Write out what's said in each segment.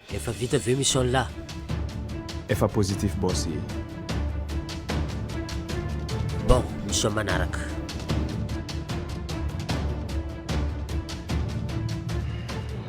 Efa vita ve mission lah? Efa positif boss e. Bon, mission manaraka.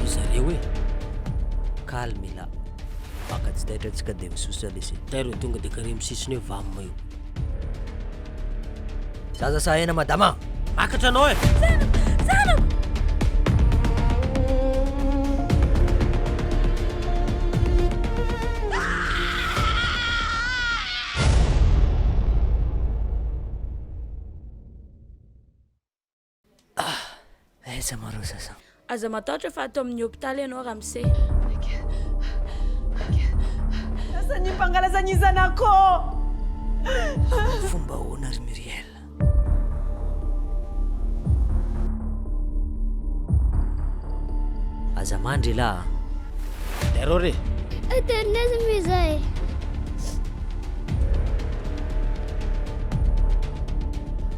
Ry zareo e! Calme ila. Mpaka tsy taitra tsy ka dia misosa lesy e! Tairo e tonga dia kary amin'ny sisiny eo vam eo. Zaza sahena madama a! Makatra anao e! Zanako! Zanako! Ah! Aiza ma reo zaza? Aza matahotra fa ato amin'ny hopitaly ianao Ramse. Asa ny mpangalaza ny zanako? Fomba ahoana ry Muriel? Aza mandry elah a! Error e! Internet moa izay.